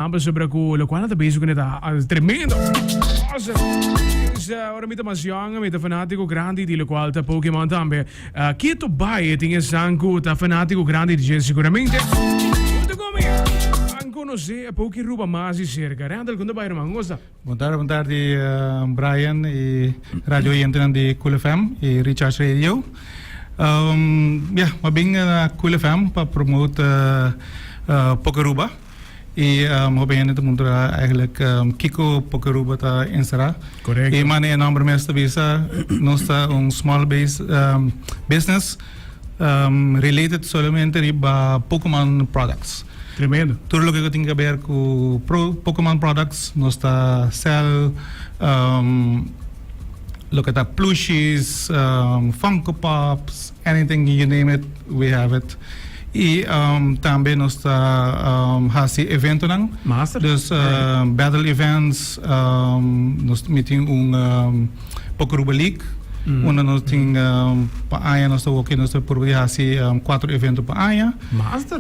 Nan pasobra cu locual nan ta bezig cu nan e ta al tremendo cosa. Pues ora mi ta mas jong, mi ta fanatico grandi di locual ta Pokémon tambe. Ah, Keto baie tin esan cu ta fanatico grandi di dje seguramente. Cu ta cu mi? Nan conoce e Pokéruba mas di cerca. Rendel, con ta bai ruman? Como sta? Bon tarde, bon tarde Brian y radio oyentenan di Cool FM y Recharge Radio. Ehm, ya, m'aben na Cool FM pa promote Pokéruba. y hopi hende ta puntra eigenlijk kiko por ke Aruba ta encerra y mane e nomber mes ta bisa nos ta un small base business related solamente riba pokoman products tur loke ku tin ke ber ku pokoman products nos ta sel loke ta plushies funko pops. anything you name it we have it y tambe nos ta haci eventonan dus battle events nos mi tin un pokoruba league unda nos tin pa aña nos ta wak y nos ta proba di haci cuatro evento pa aña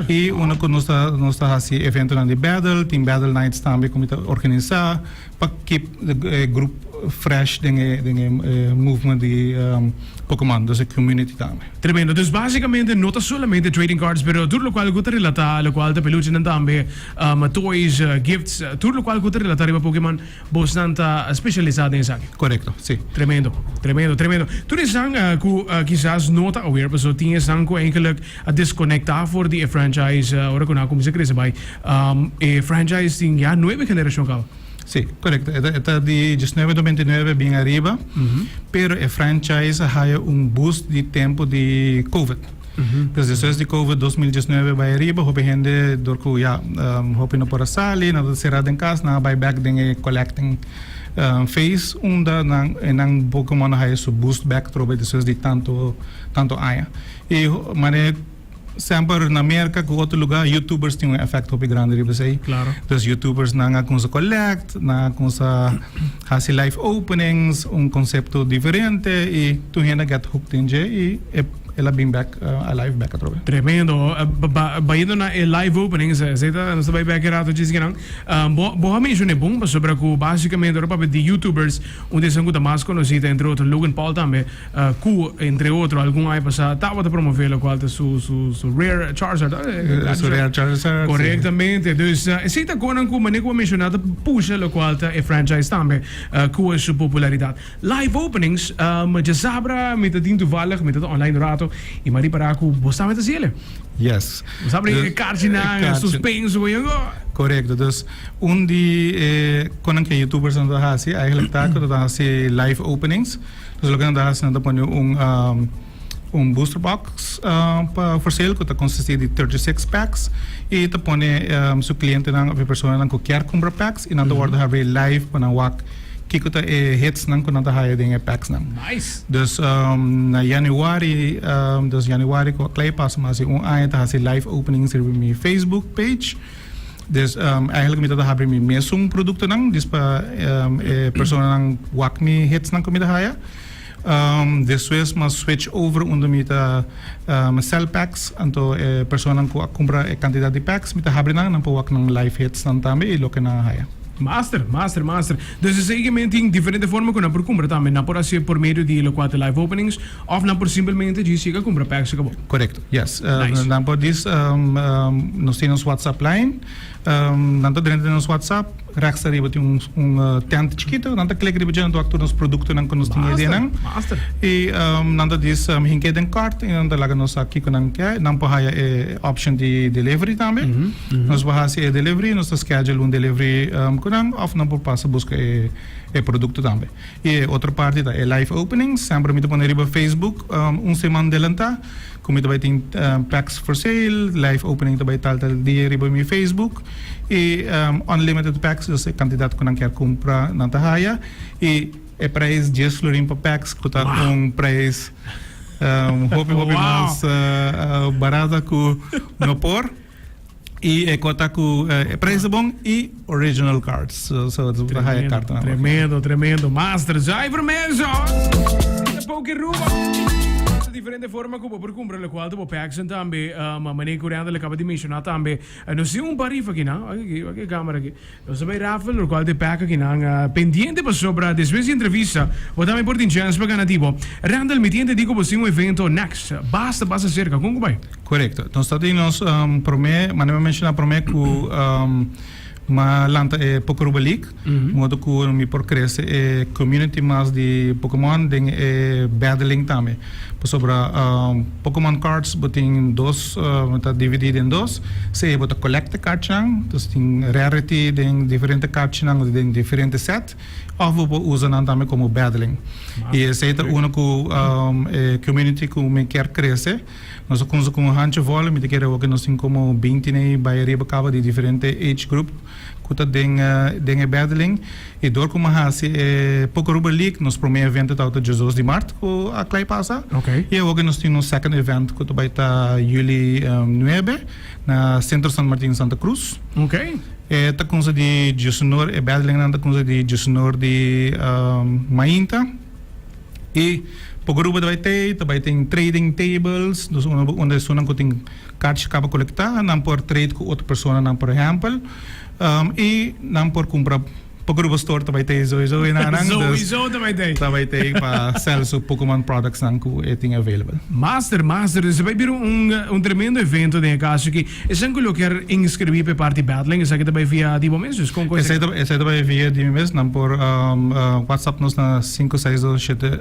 y unda cu nos ta haci eventonan di battle tin battle nights tambe cu mi ta organisa. Pa kip e grup fresh den e den e movement di Pokemon dus e community tambe. Tremendo. Dus basikamente no ta solamente trading cards pero tur lokual ku ta relatá lokual ta peluchenan tambe, toys, gifts, tur lokual ku ta relatá riba Pokemon bosnan ta speshalisá den esaki. Korekto, si. Tremendo, tremendo, tremendo. Tur esnan ku kisas no ta aware paso tin esnan ku enkelek a desconecta for di e franchise ora cu nan a cuminsa crece bay. E franchise tin ya nuebe generacion caba. Si, corecto. E ta di diesnuebe tomente y nuebe bien ariba, pero e franchise a haya un boost di tempo di Covid. Pues despues di Covid dos mil diesnuebe bay ariba, hopi hende door cu ya hopi no por a sali, nan ta cera den cas, nan a bay back den e collecting phase unda nan Pokemon a haya su boost back trobe despues di tanto, tanto aña. E manera semper na Merca cu otro lugar youtubers tin un efecto hopi grandi riba esey. Claro. Dus youtubers nan a cuminsa collect, nan a cuminsa haci live openings, un concepto diferente y tur hende a get hooked den dje y e el a bin bek alive bek atrobe. Tremendo. Bayendo na e live openings, esey ta nos ta bay bek e rato dje sikinan. Bo bo a menciona e bon pasobra cu basicamente ora papia di youtubers un di esun cu ta mas conoci ta entre otro Logan Paul tambe. cu entre otro algun aña pasa tabata promove locual ta su su su rear charger ta e su rear charger ta correctamente dus esey ta conan cu manera cu bo menciona ta pusha locual ta e franchise tambe cu e su popularidad live openings diasabra mi ta tin toevallig mi ta ta online un rato y mi a ripara cu bos tambe ta haci ele yes bos a bringa cu e carchinan e suspenso cu yungo correcto dus un di e conan cu e youtubers nan ta haci ta haci live openings. Entonces loke nan ta hasi nan ta pone un un booster box pa for sale ku ta konsisti di thirty six packs i ta pone su klientenan òf e personanan ku kier kumpra packs i nan ta wòrdu habri live pa nan wak kiko ta e hitsnan ku nan ta haya den e packsnan. Dus na yanüari dos yanüari ku a klei pasa mi hasi un aña ta hasi live opening sirbi mi facebook page. Des eigenlijk mi ta habri mi mesun produktonan di pa e personanan wak mi hitsnan ku mi ta haya. Despues mi a switch over unda mi ta sèl pèks, anto e personanan ku a kumpra e kantidat di pèks mi ta habri nan, nan por wak nan live hitsnan tambe i loke nan a haya. Master, master, master. Desde esei ke men tin diferente forma ku nan por kumpra tambe. Nan por hasi por medio di lokual ta live openings, Of nan por simplemente djis yega cumpra packs y cabo. Correcto, yes. Nice. Nan por djis nos tin nos WhatsApp line, nan ta drenta den nos WhatsApp, rechtstra riba tin un tent chikito, nan ta click riba dje, nan ta wak tur nos productonan cu nos tin e dianan. Master, master. Y nan ta djis hink'e den cart y nan ta laga nos sa kico nan ke. Nan por haya e option di delivery tambe. Nos por haci e delivery, nos ta schedule un delivery cu nan of nan por pasa busca e producto tambe. E otro parti ta e live opening, semper mi ta pone riba Facebook un seman delantá ku mi ta bai tin packs for sale, live opening ta bai tal tal dia riba mi Facebook i unlimited packs dus e kantidat ku nan kier kumpra nan ta haya i e prijs dies florin pa packs ku ta un prijs hopi hopi mas barato ku no por. Y e cota cu e prijzen bon y original cards. So, so su ta haya carta na Tremendo, tremendo. Master Jai Vermejo. Te poki ruba. Sa diferente forma cu bo por cumpra lo cual te bo paxen tambe. Um, Mane Coriander le caba di menciona tambe. Eh, no si un pa rifa aquí, na. Aki, aquí, aki e camera aquí. Nos ta bai rafel, locual te peka ki nan pendiente pasobra despues di entrevista bo tambe por tin chance pa gana di bo. Randall, mi tin entendi cu bo tin un evento next basta basta cerca, con cu bai? Corecto. Nos ta tin nos prome, manera mi a menciona prome cu mi a lanta e Pocoruba League, modo cu mi por crece e community mas di Pokémon den e battling tambe. Pasobra Pokémon cards bo tin dos, bo ta dividí den dos, sea bo ta kolekt'e kartnan, dus tin rarity den diferente kartnan òf den diferente sèt, òf bo por usa nan tambe komo battling. I esei ta unu ku e community ku mi kier krese. Nos a kunsa ku un hanchi vòl, mi ta kere awo ku nos tin komo binti nei bai ariba kaba di diferente age group. ku ta den den e Bèdelin, i dor ku mi a hasi e poko Rubber League, nos promé evento tabata Dios dos di Mart ku a klai pasa, i awoke nos tin nos second event ku ta bai ta Juli nuebe na Sentro Sant Martin Santa Cruz. E ta kunsa di Diosunor, e Bèdelinnan ta kunsa di Diosunor di Mainta, i poko Rubber ta bai tei, ta bai tin trading tables, dus unda esuna ku tin. Cach caba colecta, nan por trade cu otro personanan por ehempel, y nan por cumpra poco rubo store ta bay tey zoe zoe na nan, dus ta bay tey pa sell su Pokémon products nan cu e tin available. Master, master, dus e bay bira un tremendo evento den e caso aki. Esnan cu lo ker inscribi pa e parti Battling, esaki ta bay via di bo mes dus? Con cu esaki? Esaki ta bay via di mi mes, nan por WhatsApp nos na sinku seis dos shete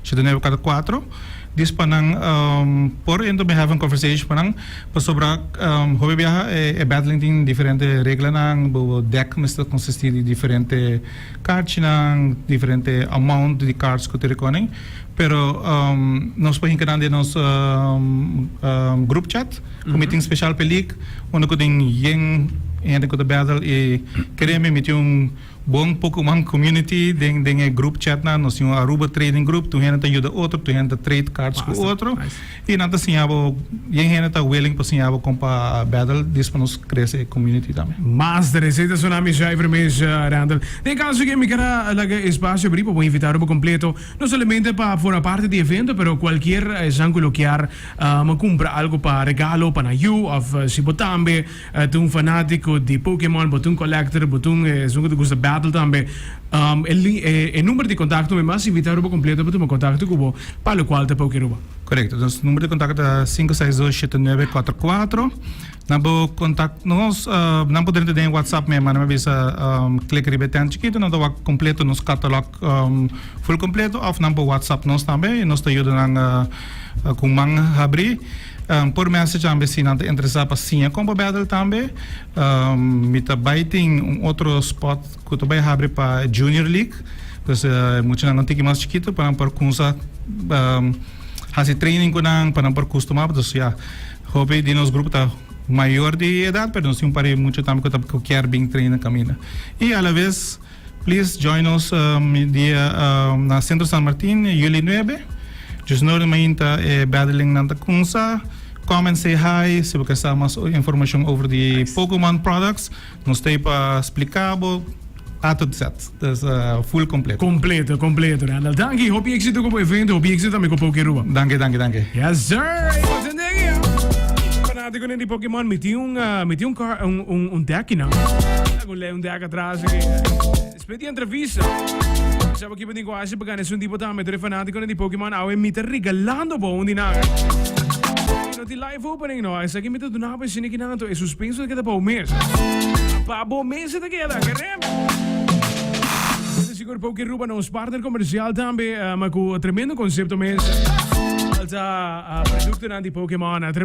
shete nueve cuater cuater. Dis pa nan por ento mi have un conversation pa nan pasobra hopi biaha e battling tin diferente reglanan bobo dek mester consisti di diferente carchinan diferente amount di cards cu te reconen pero nos por hinca nan den nos group chat cu mi tin special p'e league unda cu tin yen hende cu ta battle y kere mi miti un Bon Pokoman Community den den e group chat nan nos tin un Aruba Trading Group tur hende ta yuda otro tur hende ta trade cards ku otro y nan ta siña bo bien hende ta willing pa siña bo kon pa battle this pa nos krese e community tambe. Mas de reseta Tsunami Schrijver mes Randall. Den caso ke mi kara laga espacio abri pa bo invitado bo completo no solamente pa forma parte di evento pero cualkier esnan ku lo kier a kumpra algo pa regalo pa nan yu of si bo tambe E ta un fanatico di Pokémon, bo ta un collector, bo ta un esun cu ta gusta battle tambe. Um, e, li, e, e number di contacto mi mas invita Aruba completo pa tuma contacto cu bo, pa lo cual ta pa oki Aruba. Correcto. Nos number di contacto ta cinco seis dos siete nueve cuatro cuatro. Nan por contact nos, um, nan por drenta den e WhatsApp me, manda me bisa, um, click riba e tent chikito, nan ta wak completo nos catalog, um, full completo, of nan por WhatsApp nos tambe y nos ta yuda nan, uh, cu un man habri. Por mester djam e si nan ta interesá pa siña kon pa bèdel tambe. Mi ta bai tin un otro spòt ku ta bai habri pa e junior league. Dus muchanan un tiki mas chikitu pa nan por kumsa hasi training ku nan, pa nan por kustumá. Dus ya, hopi di nos grupo ta mayor di edat, pero nos tin un par di mucha tambe ku ta kier bin treina kaminda. I alabes. Please join nos mi dia na Centro San Martin, Juli nuebe. Djus no ora mainta e battling-nan ta kumsa. Come and say hi si bo ke sa mas informashon over di Pokémon products. Nos ta ei pa spliká bo. A tot zet. Ta full kompleto. Kompleto, kompleto, Randall. Danki. Hopi éksito ku bo evento. Hopi éksito tambe ku Pokérua. Danki, danki, danki. Yes sir! Ey nos hende aki, ha? Fanátikonan di Pokémon, mi tin un, mi tin un car, un, un, un deck hinan. Lei un dek atras aki. Split y entrevista. Sa bo kipa di kwasi pa ganes un tipo tame tre fanatico di Pokémon awe mi ta regalando bo un di nan. No ti live opening no, esa ki mi ta duna pa sini ki nan to e suspenso keda pa u mes. Pa bo mes ta keda, kerem. Sigur Poké Ruba nos partner comercial tambe, uh, ma ku tremendo concepto mes. Alta uh, producto nan di Pokémon. Uh,